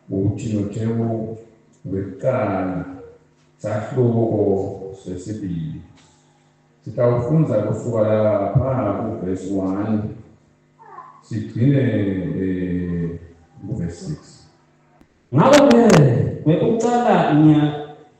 UThimothewu wekucala sahluko sesibili. Sitawufundza kusuka lapha kuvesi 1 sigcine eh, kuvesi 6. Ngakho-ke kwekucala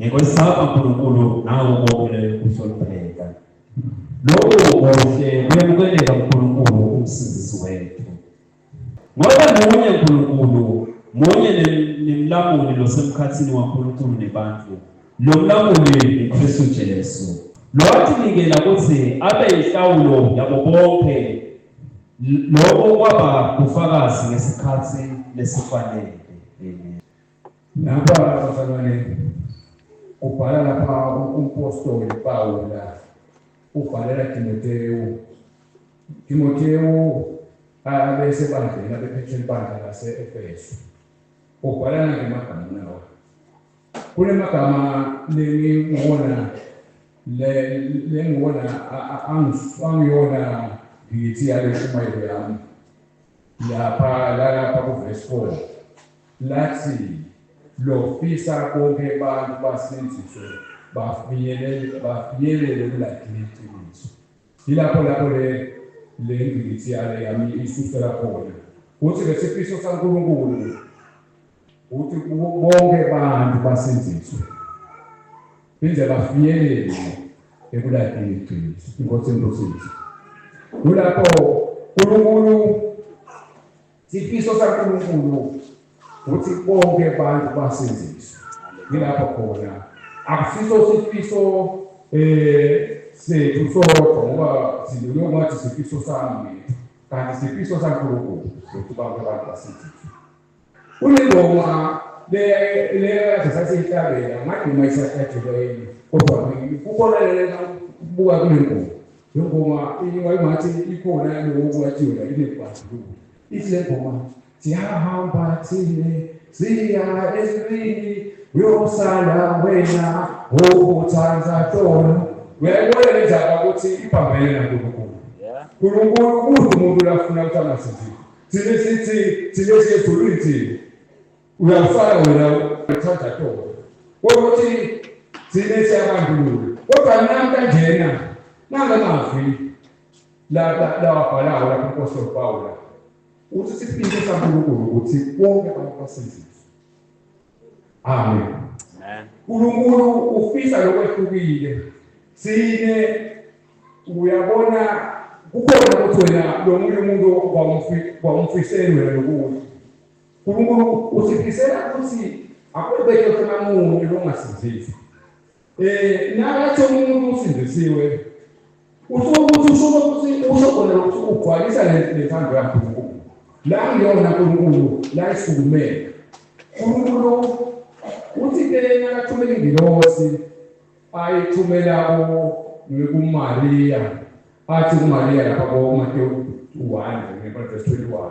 Ngikwesaba Nkulunkulu nawe ubongele ukuhlonipheka. Lokhu kuhle kuyamukeleka Nkulunkulu umsindisi wethu. Ngoba munye Nkulunkulu, munye nemlamuli losemkhathini waNkulunkulu nebantu. Lo mlamuli uKristu Jesu. Lowathi nikela ukuthi abe inhlawulo yabo bonke lokho kwaba bufakazi ngesikhathi lesifanele. Napa abazalwane ubhala lapha umpostoli Pawula ubhalela Timotewu. Timotewu abese bandleni abephethe impandla lase-Efesu. Ubhala nangemagama nawo. Kule magama lengiwona lengiwona angiyona ngithi yale shumayelo yami lapha lalapha kuvesi 4 Lathi lofisa bonke abantu basindziswe bafinyelele bafinyelele kulagcina iqiniso. Yilapho lapho le le ngqikithi yale yami isusela khona. Kuthi ke sifiso saNkulunkulu ukuthi kubo bonke abantu basindziswe phinde bafinyelele ekulagcina iqiniso. Inkosi inkosi. Kulapho uNkulunkulu Isifiso saNkulunkulu ukuthi bonke abantu basindiswe. Ngilapho khona. Akusiso isifiso eh sethu sodwa ngoba sibuye ngathi isifiso sami kanti isifiso saNkulunkulu ukuthi bonke abantu basindiswe. Kunengoma le le sasiyithabela ngaduma isakhathele kodwa kukhona lena kubuka kulengoma Lengoma ingathi ikhona yalowo wajula inebhadlulu. Ithi lengoma siyahamba thine siya ezulwini uyosala wena owuthanda tona. Uyayibona le ndaba ukuthi ibambene naNkulunkulu. Nkulunkulu udla umuntu lafuna ukuthi angasinzile. Thina sithi thina siyezulwini thina. Uyafana wena uthanda toko. Ukuthi thina siyabandlulula. Kodwa nami kanjena nanga mazwi la la wabhalayo lapho inkosi yoPawula. Uthi siphinde saNkulunkulu ukuthi bonke abantu basizizwe. Amen. Amen. uNkulunkulu ufisa lokwehlukile. Sine uyabona kukhona ukuthi wena lo munye umuntu kwamfiselwe lokudla Nkulunkulu usifisela ukuthi akubeke khona muntu longasindiswa. Eh nakathi umuntu usindisiwe usho ukuthi usho ukuthi usho khona ukuthi ugcwalisa lentando yakhe uNkulunkulu. La ngiyona uNkulunkulu la isukumele. uNkulunkulu uthi ke nakathumela ingilosi ayithumela kuMariya athi kuMariya lapha koMatewu 1 ngeverse 21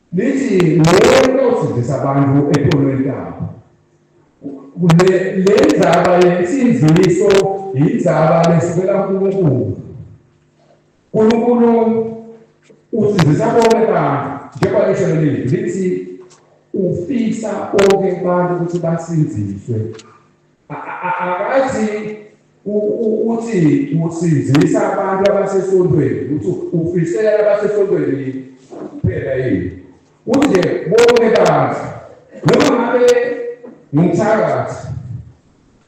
Nithi lento osindisa abantu ePolweni Kapa. Kule le ndzaba yensinziso yindzaba lesivela kuNkulunkulu. uNkulunkulu usindisa bonke abantu njengoba lisho leli lithi ufisa bonke abantu ukuthi basinziswe. Akathi uthi usizisa abantu abasesontweni ukuthi ufisela abasesontweni kuphela yini uthi nje bonke kazi noma ngabe ngumthakathi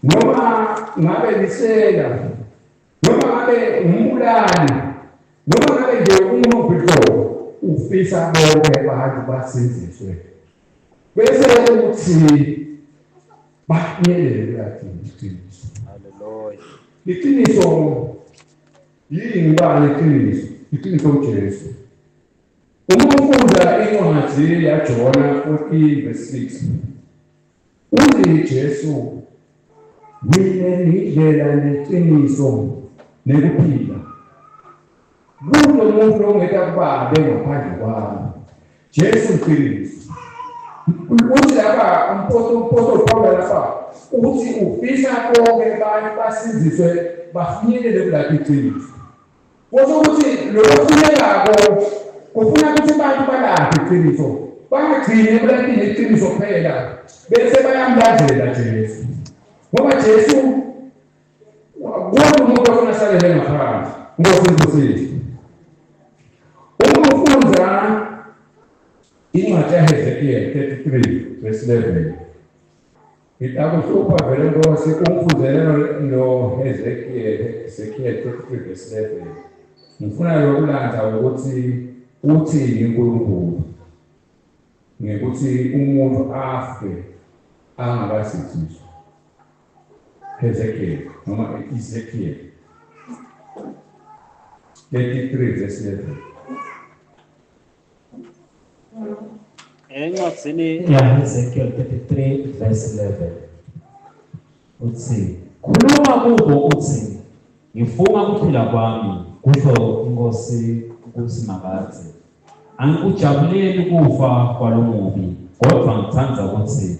noma ngabe lisela noma ngabe umbulali noma ngabe nje umuntu qobo ufisa bonke abantu basiziswe bese uthi bafinyelele kuyadinga iqiniso haleluya iqiniso yini ngibani iqiniso iqiniso uJesu uma ufunda incwadi yaJona 14 verse 6 uthi uJesu mina ngidlela neqiniso nekuphila Kunomuntu ongeta kubabe ngaphandle kwami. Jesu uqinisa. Uthi lapha umposto umposto Paulo lapha uthi ufisa konke abantu basiziswe bafinyelele kulapha iqiniso. Kusho ukuthi lo ofunekako ufuna ukuthi abantu balaphe iqiniso bangagcini ekulapini iqiniso kuphela bese bayamlandela Jesu ngoba Jesu Kodwa umuntu ofuna asalele ngaphakathi Nkosi imbusise. Uma ufunda incwadi yaHezekiel 33 verse 11 itakuhlupha vele Nkosi ungifundele noHezekiel Hezekiel 33 verse 11 ngifuna yokulanda ukuthi uthini uNkulunkulu ngekuthi umuntu afe angakasithiswa Hezekiel noma Ezekiel 33 verse 11 encwadzini yaHezekiel 33 verse 11 uthi khuluma kubo uthi ngifunga ukuphila kwami kusho inkosi ukuthi makathi angikujabuleli kufa kwalomubi kodwa ngithanda ukuthi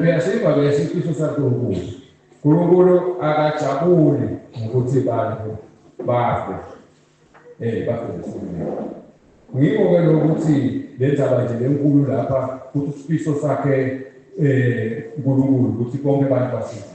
Uyasiva ke isifiso saNkulunkulu. Nkulunkulu akajabuli ngokuthi bantu bafe. Eh bafe ngesimini. Ngikho ke lokuthi le ndaba nje lenkulu lapha ukuthi isifiso sakhe eh uNkulunkulu ukuthi bonke abantu basizwe.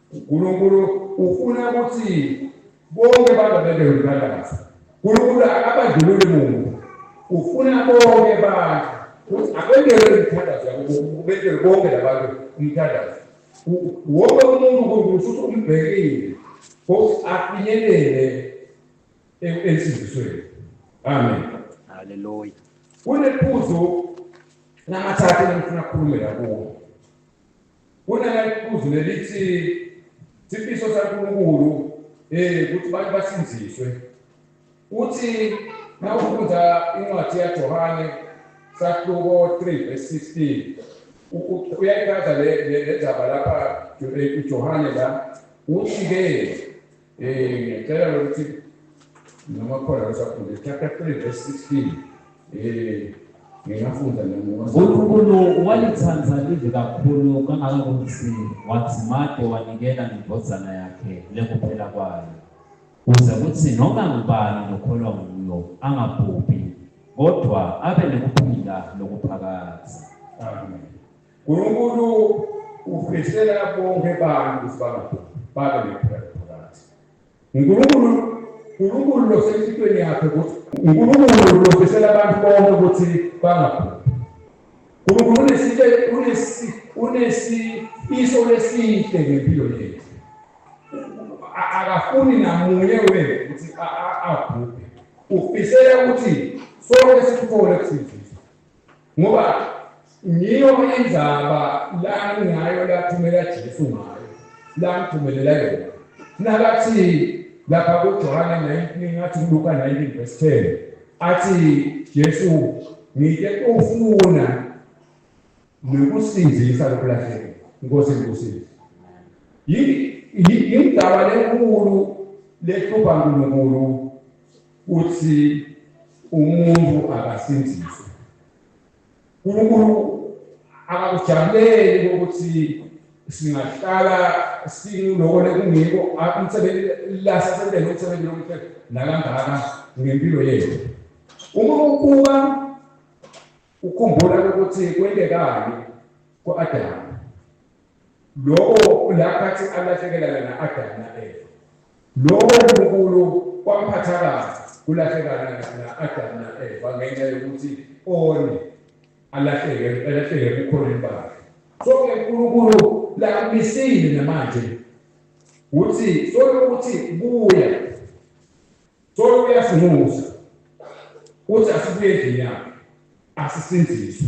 UNkulunkulu ufuna ukuthi bonke abantu abebe yomphakathi. UNkulunkulu akabandlululi muntu. Ufuna bonke abantu ukuthi abendelwe imithandazo yabo, ubendelwe bonke labantu umthandazo. Wonke umuntu uNkulunkulu futhi umbhekile ukuthi afinyelele ensindisweni. Amen. Haleluya. Kunephuzu namathathu engifuna ukukhulumela kuwo. Kunala iphuzu lelithi sifiso saNkulunkulu eh ukuthi abantu basinziswe. Uthi nawufunda incwadi yaJohane sahluko 3 verse 16 uyayichaza le ndaba lapha uJohane la uthi-ke Eh, ngiyacela ukuthi ngamakhola asafunde chapter 3 verse 16 eh ngingafunda uNkulunkulu walithanda live kakhulu kangakangokuthi wathi made wanikela nendodana yakhe lekuphela kwayo kuze kuthi noma ngubani nokholwa nguyo angabhubhi kodwa abe nekuphila lokuphakadza amen Nkulunkulu ufisela bonke abantu ukuthi bangabhubhi babe nephela phakathi. Nkulunkulu Nkulunkulu losemthethweni yakhe ukuthi Nkulunkulu lofisela abantu bonke ukuthi bangabhubhi. Nkulunkulu unesike unesi unesifiso lesihle ngempilo yethu. Akafuni namunye wethu ukuthi abhubhe. Ufisela ukuthi sonke sithole kusizwe. Ngoba ngiyo indaba lani ngayo lathumela Jesu ngayo lamthumelela yona nakathi lapha kuJohane 19 ngathi kuLuka 19 verse 10 athi Jesu ngike ufuna nokusindisa lokulahleka inkosi inkusile yini indaba lenkulu lehlupha uNkulunkulu Uthi umuntu akasindiswe. Unkulunkulu akakujabuleli ukuthi singahlala sinulokole kungiko umsebenzi lasasendele umsebenzi lomuhle nakangaka ngempilo yethu. Uma ukuba ukhumbula ukuthi kwentekayo ku-Adamu Lowo ulaphathi alahlekelana na Adamu na Eva. Lowo Nkulunkulu kwamphatha kabi kulahlekana na Adamu na Eva ngenxa yokuthi one alahleke alahleke ebukhoneni bakhe. So ke Nkulunkulu lakumisile namanje uthi sokuthi buya. Solo uyasinxusa uthi asibuye endlini yakhe asisindiswe.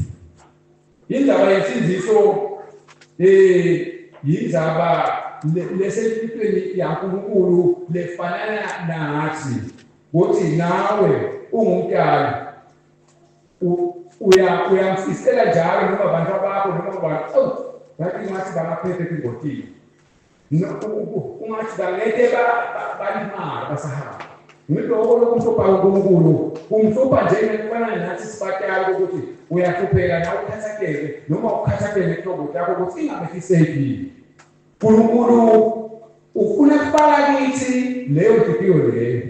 Indaba yensindiso eh yindaba lesempilweni yaNkulunkulu lefanana nathi ukuthi nawe ungumntana uyamfisela njalo noma abantu abakho noma abantu oh ngathi ngathi bangaphephe kungotile ungathi bangeke balimala basahamba ngiloko lokumhlupha uNkulunkulu kumhlupha njengekufana nathi sibatali ukuthi uyahlupheka nawe ukhathakele noma ukhathakele inhlobo yakho ukuthi ingabefisekile uNkulunkulu ufuna kufaka kithi leyo ntukiyo leyo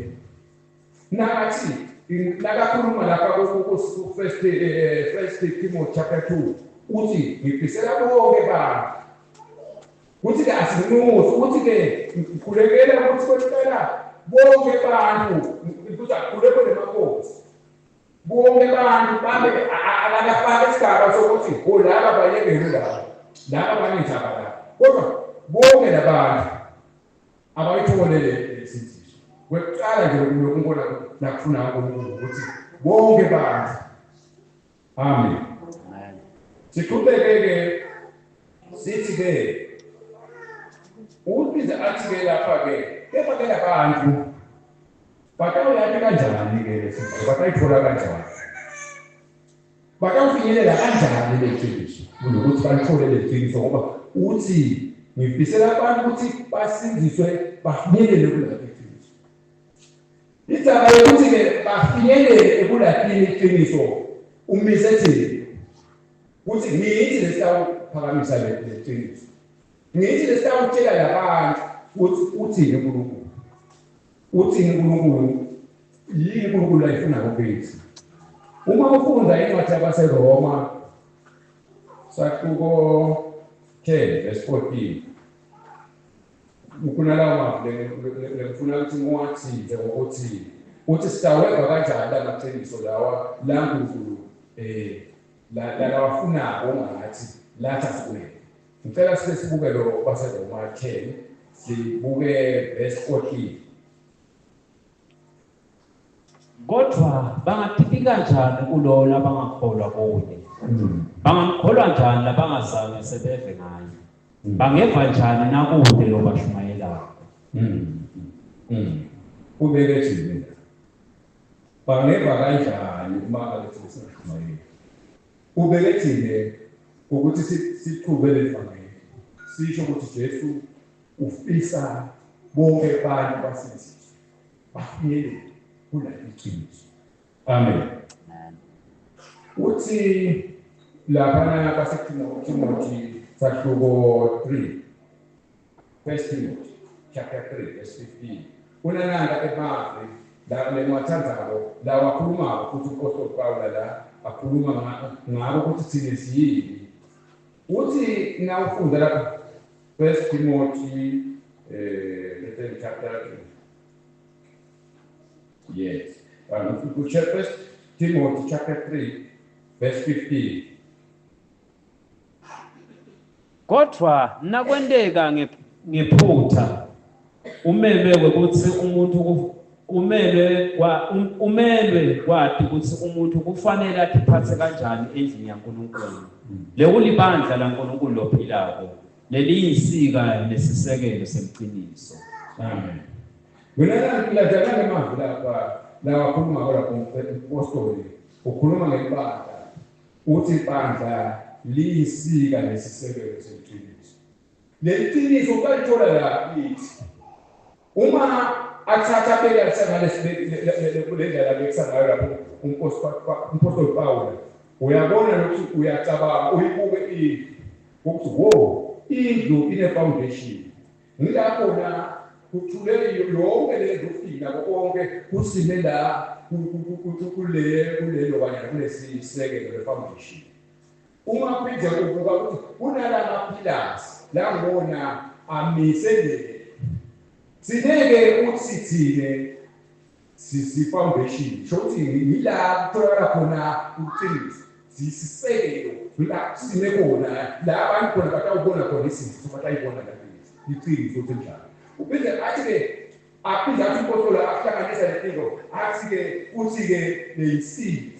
nakathi nakakhuluma lapha ku-first eh, eh, first timothy chapter 2 uthi ngifisela bonke bantu Kuthi ke asinxusi ukuthi ke ngikhulekela ukuthi kwempela bonke abantu ukuthi akhulekwe nemakosi bonke abantu babe akafaki isigaba sokuthi olaba bayekele laba laba banezaba la kodwa bonke labantu abayitholele isinziso kwekuqala nje unkulunkulu nakufuna unkulunkulu ukuthi bonke abantu Amen. Amen. Siqhubeke-ke sithi-ke ubize athi-ke lapha-ke kepha ke labantu batawuyati kanjani-ke lesifo batayithola kanjani batawufinyelela kanjani leqiniso kunokuthi balithole leqiniso ngoba uthi ngifisela abantu ukuthi basindiswe bafinyelele kulaa Indaba yokuthi-ke bafinyelele ekulahleni iqiniso umise thina ukuthi ngithi lesitawuphakamisa le qiniso ngithi lesitawutshela labantu ukuthi uthini unkulunkulu uthini unkulunkulu yini unkulunkulu ayifuna ngobethu uma ufunda incwadi yabaseroma saquko 10 verse 14 Ngifuna lawo mazwi ngifuna ukuthi ngiwathinte ngokuthini ukuthi sitaweva kanjani la maqiniso lawa la Nkulunkulu um lalawafunako ongathi lathi asikumele ngicela sibe sibuke lo kwaseroma 10 sibuke verse 14 Kodwa bangaphiphi kanjani kulowo labangakholwa kuye? Hmm. Bangamkholwa njani labangazange sebeve ngaye? Hmm. Bangeva njani nakude lobashumayelayo? Hmm. Ubeke thina. Bangeva kanjani uma abethi sishumayela? Ubeke thina ukuthi siqhube levangeli. Sisho ukuthi Jesu ufisa bonke abantu basizwe. bafinyelele kuleli qiniso amen uthi laphana kwasetimothy sahluko 3 first timothy chapter 3 verse 15 kunananda emavi la lengiwathandako la wakhulumako futhi umpostoli pawula la akhuluma ngako ukuthi thina siyini uthi nawufunda lapha First Timothy eh the third chapter. Yes. And if you could check First Timothy chapter 3 verse 15. Kodvwa nakwenteka nge- ngephutsa Umelwe ukuthi umuntu ku, umelwe kwa, um, umelwe kwati ukuthi umuntu kufanele atiphatse kanjani endlini yaNkulunkulu. Lekulibandla laNkulunkulu lophilako, leliyinsika nesisekelo semciniso. Amen. Mina ngiladelana emazwi lapha lawakhuluma ngako lapho umpostoli ukhuluma ngebandla uthi ibandla liyisika nesisekelo semciniso. Leli qiniso balithola laphi kithi? Uma athatha abeke alisangane le ndlela abekisa ngayo lapho umphostoli Pawula, uyabona nokuthi uyacabanga, uyibuke indlu, ukuthi wo, indlu inefawundeshini. Ngilapho na kuthule yonke le ndlu, ukufika nako konke kusime la kulelo kanyana kunesisekelo, lefawundeshini. Uma phinde kuvuka ukuthi kunala maphilasi langona amise nje. Sineke ukuthi sithine sisi-foundation sho ukuthi yila kutholakala khona ukuqinisa ziyisisekelo la kusine khona la abantu khona batawubona khona izinto batayibona la iqiniso ukuthi njalo uphinde athi-ke aphinde athi umpostoli akuhlanganisa lento athi-ke uthi-ke leyisiphi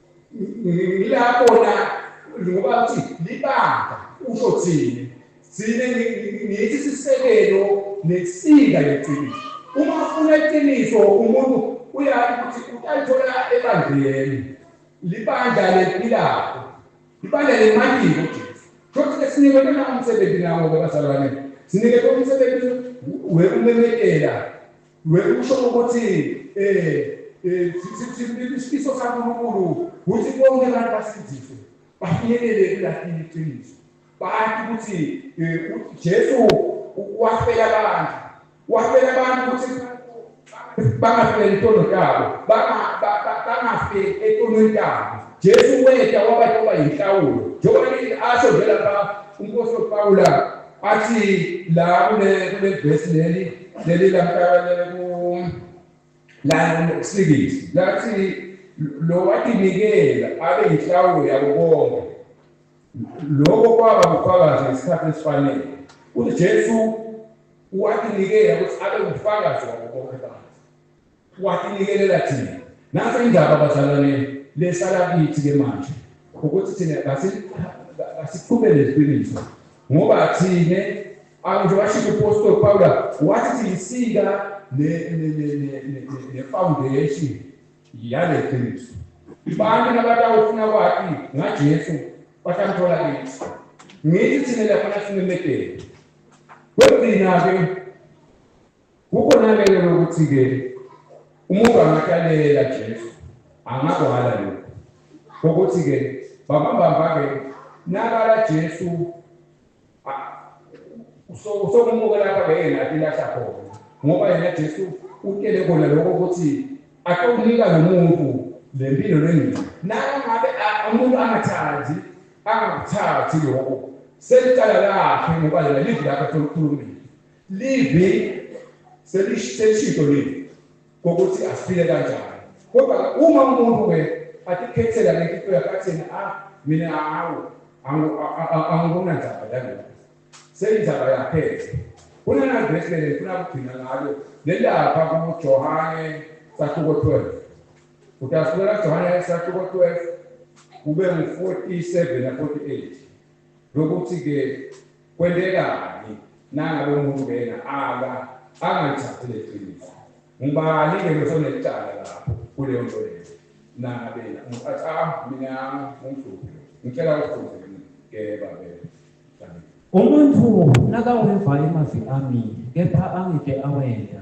ngilabona ngoba uthi libanga usho thina thina ngithi sisekelo nesika leqiniso uma ufuna iqiniso umuntu uyazi ukuthi utalithola ebandleni libandla lempilakho libandla lemalini ujesu shothi ke sinikwe lona umsebenzi nawo-ke bazalwane sinikwe umsebenzi wekumemekela We usho ukuthi eh eh isifiso saNkulunkulu ukuthi bonke abantu basindiswe bafinyelele kulakini iqiniso bathi ukuthi eh, uJesu wafela abantu wafela abantu ukuthi bangafeli intono yabo bangafeli etonweni yabo Jesu weta wabathi oba yinhlawulo njengoba asho nje lapha uNkosi uPawula Athi la kule kule verse leli leli lamkabalele ku la ngokusikisi. Lathi lo watinikela abe inhlawulo yabo bonke. Lokho kwaba ubufakazi ngesikhathi esifanele. UJesu watinikela ukuthi abe ubufakazi wabo bonke abantu. Watinikelela thina. Nansi indaba bazalwane lesala kithi ke manje ukuthi thina basi basiqhubele iqiniso ngoba thina angisho washiya uPostoli Pawula wathi siyisika ne ne ne ne ne foundation yale qiniso. Abantu nabatawufuna kwati ngaJesu batamthola kithi. Ngithi thina lapha nasimemedela. Kwenzina ke Kukhona-ke ke ukuthi-ke umuntu angathi alelela Jesu, angakwala lokhu kokuthi-ke babambamba-ke nakala Jesu usokumuke lapha-ke yena athi lahla khona ngoba yena Jesu utshele kona lokho ukuthi atokunika lo muntu le mpilo lengcina nangabe umuntu angathandi angakuthathi lokho selicala lakhe ngoba yena livi lakhe atolukhulumile Livi selishintsho livi kokuthi asifile kanjani kodwa uma umuntu ke atikhethela le nto yakhe athini a ah, mina hawu angikona ndzaba yalokho seyindzaba yakhe kunenavesi lele funa kugcina ngalo lelapha kujohane sahluko 12 utasukela kujohane sahluko 12 kube ngu-47 na-48 lokuthi ke kwendekani nangabe umuntu kena aka angalithathi leqiniso ngubani ke losonelicala lapho kuleyo nto leyo nangabe yena umuntu athi ah mina ngumhluphi ngicela ukufunze ke babe umuntu nakaweva emavi ami kepha angike awenda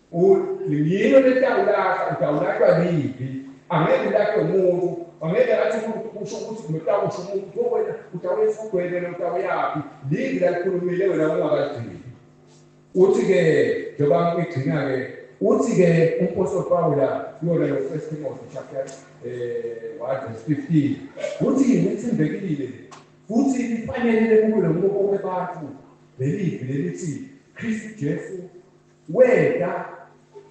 Yini betawulahla utawulahlwa libi angeke ulahlwe muntu angeke athi umuntu kusho ukuthi kumetakusho umuntu pho wena utawuyisa ugwebele utawuyaphi libi lalikhulumile wena ungakagcini uthi-ke njengoba ngigcina-ke uthi-ke umpostoli pawula kuyona yo first timothy chapter um one verse fifteen uthi ngithembekile futhi lifanele lekulo ngokoke bantu lelivi lelithi kristu jesu Weda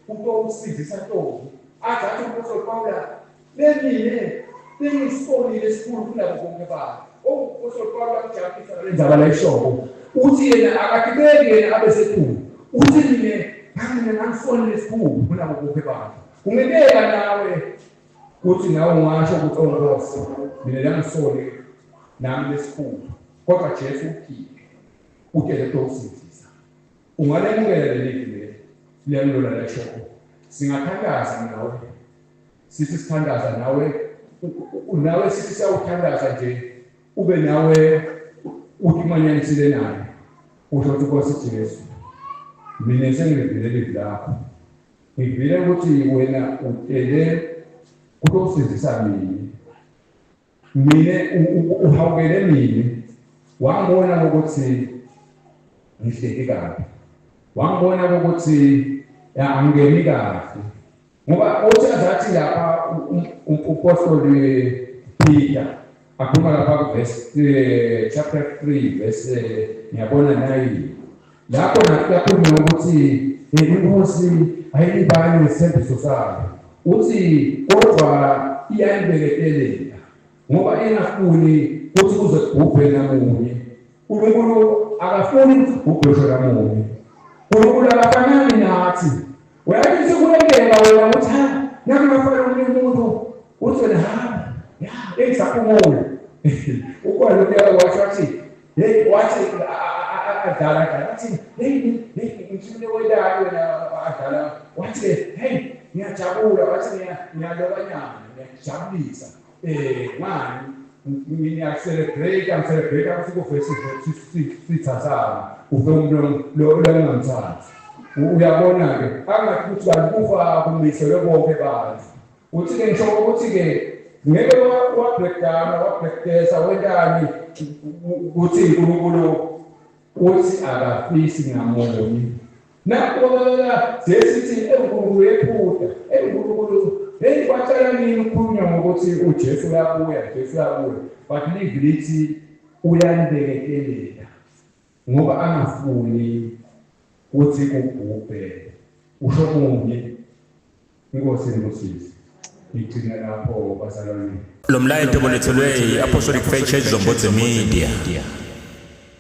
uto ukusindisa Ntombi aze athi uMpostoli Pawula bemile bengisibolile esikhulu kunabo bonke babo. UMpostoli Pawula uJabulisa ngale ndzaba layishoko uthi yena akagibeki yena abe sesikhulu uthi mina ngangina ngangisonile esikhulu kunabo bonke babo. Kungibeka nawe kuthi nawe ungasho ukuthi oNkosi mina langisole nami lesikhulu kodwa Jesu ukhiphe utele uto ukusindisa. Ungalemukela leli vili leli liyamlula leshoko. Singathandaza nawe. Sithi sithandaza nawe nawe sithi siyawuthandaza nje ube nawe uthi umanyanisile naye usho ukuthi Nkosi Jesu mina sengivile leli lakho ngivile ukuthi wena utele kutokusindisa mina Mina uhawukele mina wangibona ukuthi ngihleki kabi. Wangibona ukuthi angingeni kahle. Ngoba uthi azathi lapha umpostoli Peter akhuluma lapha kuverse eh, chapter 3 verse eh, ngiyabona nayi Lapho nakuyaphumela ukuthi inkosi ayilibali ngesithembiso sayo. Uthi kodwa iyalibeketelela ngoba ingafuni ukuthi kuze kubhubhe namunye. UNkulunkulu akafuni ukuthi kubhubhe ngisho namunye. UNkulunkulu akafanani nathi. Uyakithi kulengeka wena ukuthi ha nami ngafanele omunye umuntu uthi wena hamba ya engisaphumula. Ukwalo kuyala wathi wathi Hey, wathi adlala adlala wathi hey ngithule wedalo wena adlala wathi hey ngiyajabula wathi ngiyaloba nyama ngiyajabulisa eh ngani ngiyacelebrate ngicelebrate ukuthi kuvese sithathana uve umuntu lo longamthathi uyabona ke angathi ukuthi balikufa kumisele bonke abantu Uthi-ke ngisho ukuthi-ke ngeke wabhedana wabhedesa wentani uthi uNkulunkulu uthi akafisi ngamunye nakuqokelela sesithi enkulunkulu yephutha enkulunkulu heyi kwatshela nini ukukhulunywa ngokuthi ujesu uyabuya jesu uyabuya but live lithi uyanibekekelela Ngoba angafuni kuthi kubhubhe usho kunye inkosi inibusise ngigcina lapho bazalwane Lo mlayeto bolethelwe i-Apostolic Faith Church Zombodze Media.